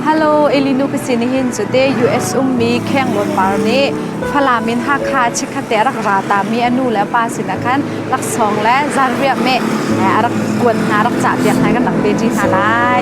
Hello, Elinu ka sin hin cute US ummi Khenglawn par nih Falam in Hakha chikkhat te rak ra ta mi anu le pa sinah khan laksawng le zanriah meh a rak kuan hna rak cah piak hna kan rak ve ṭi hna lai.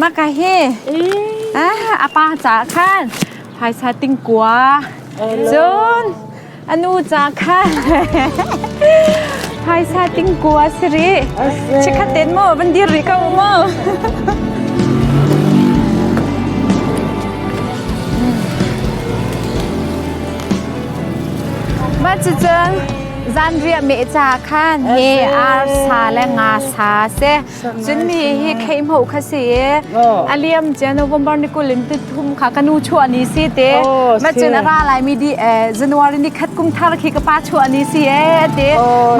Maka hi ah a pa caah khan phaisa tingkua cun a nu caah khan phaisa tingkua si rih chikhat ten maw van dir rih ko maw mah cucun zanriah meh ca khan he arsa le nga sa se Cun mi hi kheihmo kha si i a liam cia November ni kul in tuthum kha ka nu chuah ni si te ma cun a ra lai mi di January ni khat kum thar khi ka pa chuah ni si e ti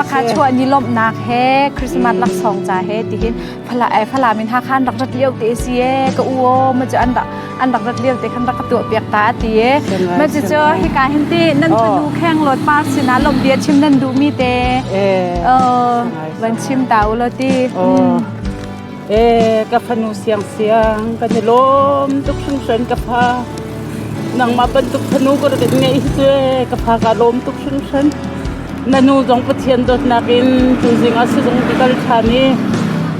ma kha chuah ni lomhnak he Christmas laksawng ca he ti hin phala e phala min ha khan rak rat lio te si e ka u o ma cu an rak an rak rat lio te khan rak ka tuah piak ta ti ma cu cho hi ka hin ti nan fanu kheng lot par sinah lomh bia chim nan duh mi te Van chim ta u law ti. Oh. Eh, ka fanu siang siang kan i lawm tuk hringhran ka pa. Nangmah bantuk fanu ka rat ngei hi cu ka pa ka lawm tuk hringhran. Na nu zong Pathian dawtnak in tu zing ah sizung ka kal ṭhan i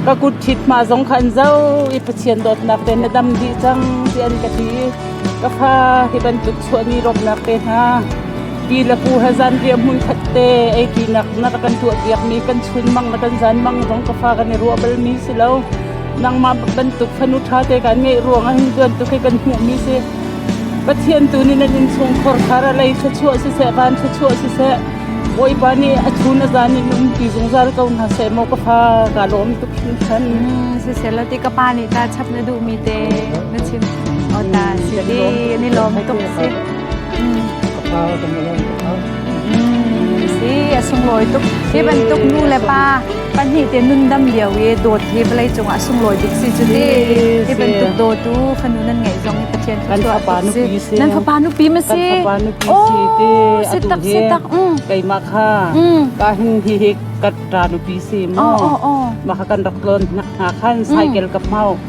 ka kut thit ma zong khan zau i Pathian dawtnak te na dam dih cang ti an ka ti. Ka fa hi bantuk chuani rawpnak te hna Pi le pu he zanriah hmunkhat te ei pinak na ka kan tuahpiakmi kan chunmang le kan zanmang zong ka fa kan i ruah balmi si lo. Nangmah bantuk fanu ṭha te kan ngeih ruangah hin bantuk hi kan hmuhmi si. Pathian tu nih nan innchungkhar kha ra lei thluachuah siseh, van thluachuah siseh, Bawipa nih a chun a zan in um ti zungzal ko hna seh maw ka fa ka lawm tuk hringhran. Siselo ti ka pa nih ta chap na duhmi te na chim. O ta si ti ni lawm tuk si. a sunglawi tuk. Hi bantuk nu le pa pahnih te nundam lio i dawt hi vawlei cungah a sunglawi tuk si cu ti. Hi bantuk dawtu fanu nan ngeih zong hi Pathian kan fapa nupi si. Nan fapa nupi ma si? Kan fapa nupi si te si tak si tak. Keimah kha ka hin hi hi ka ta nupi si maw. Mah kan rak tlon hna khan cycle ka mau.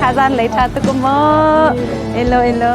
Thazan lei ṭha tuk maw? Elo elo.